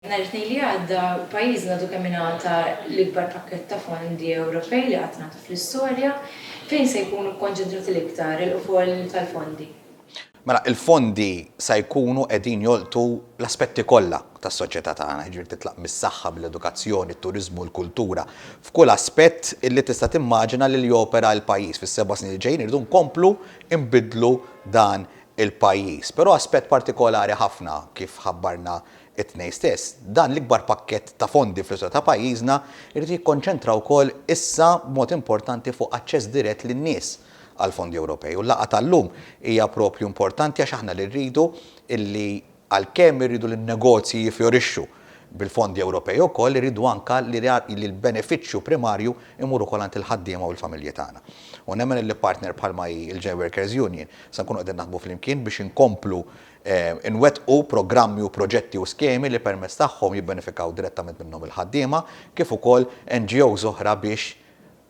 Nhar it-Tnejn li għadda, pajjiżna għadu kemm ingħata l-ikbar pakkett ta' fondi Ewropej li qatt ngħata fl-istorja. Fejn se jkunu kkonċentrati l-iktar il-qfol tal-fondi? Mela, il-fondi se jkunu qegħdin jolqtu l-aspetti kollha tas-soċjetà tagħna, jiġifieri titlaq mis-saħħa, mill-edukazzjoni, t-turiżmu, l-kultura, f'kull aspett li tista' timmaġina li jopera l-pajjiż. Fis-seba' snin li ġejjin irridu nkomplu nbiddlu dan il-pajjiż. Però aspett partikolari ħafna, kif ħabbarna It-tnejn stess, dan l-ikbar pakkett ta' fondi fl-istorja ta' pajjiżna jrid jikkonċentra wkoll issa b'mod importanti fuq aċċess dirett lin-nies għall-fondi Ewropej u l-laqgħa tal-lum hija proprju importanti għax aħna li rridu li għalkemm irridu li n-negozji jiffjorixxu bil-fondi Ewropej ukoll irridu anke li l-benefiċċju primarju jmur ukoll għand il-ħaddiema u l-familji tagħna. U nemmen li partner bħalma hi l-Jail Workers Union se nkunu qegħdin naħdmu flimkien biex inkomplu Inwettqu programmi u proġetti u skemi li permezz tagħhom jibbenefikaw direttament minnhom il-ħaddiema kif ukoll NGOs oħra biex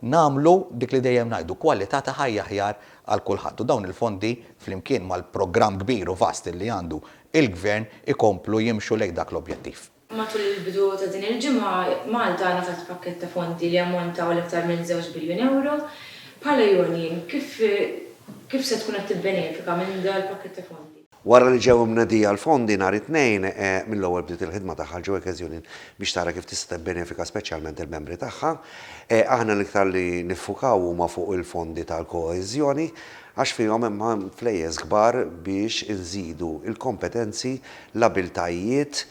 nagħmlu dik li dejjem ngħidu, kwalità ta' ħajja aħjar għal kulħadd. U dawn il-fondi, flimkien mal-programm kbir u vast li għandu l-Gvern, ikomplu jimxu lejn dak l-objettiv. Matul il-bidu ta' din il-ġimgħa, Malta ngħatat pakkett ta' fondi li jammonta għal iktar minn żewġ biljun ewro. Bħala Union, kif kif se tkun qed tibbenefika minn dal-pakkett ta' fondi? Wara li ġew imnedija l-fondi nhar it-Tnejn, mill-ewwel bdiet il-ħidma tagħha l-Joekes Union biex tara kif tista' tibbenefika speċjalment il-membri tagħha. Aħna l-iktar li niffukaw huma fuq il-fondi tal-koeżjoni għax fihom hemm flejjes kbar biex inżidu l-kompetenzi l-abiltajiet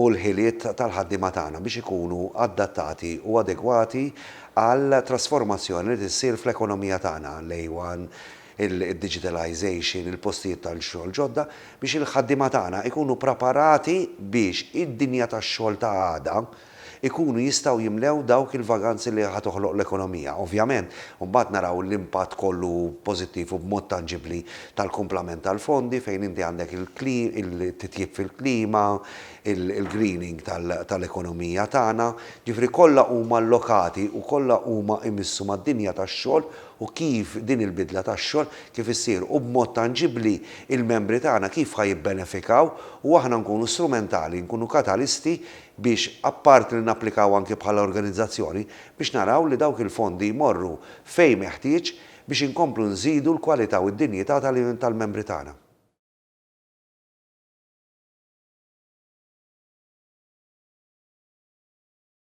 u l-ħiliet tal-ħaddiema tagħna biex ikunu adattati u adegwati għall-trasformazzjoni li ssir fl-ekonomija tagħna lejn id-diġitalization, il-postijiet tax-xogħol ġodda, biex il-ħaddiema tagħna jkunu ppreparati biex id-dinja tax-xogħol ta' għada, ikunu jistgħu jimlew dawk il-vaganzi li ħa toħloq l-ekonomija. Ovvjament, imbagħad naraw l-impatt kollu pożittiv u b'mod tanġibbli tal-kumplament tal-fondi fejn inti għandek il-titjib fil-klima, il-greening tal-ekonomija tagħna, ġifieri kollha huma allokati u kollha huma imissu mad-dinja tax-xogħol u kif din il-bidla tax-xogħol kif issir u b'mod tanġibbli il-membri tagħna kif ħa jibbenefikaw u aħna nkunu strumentali, nkunu katalisti biex apparti li napplikaw anki bħala organizzazzjoni biex naraw li dawk il-fondi jmorru fejn meħtieġ biex inkomplu nżidu l-kwalità u d-dinjità tal-membri tagħna.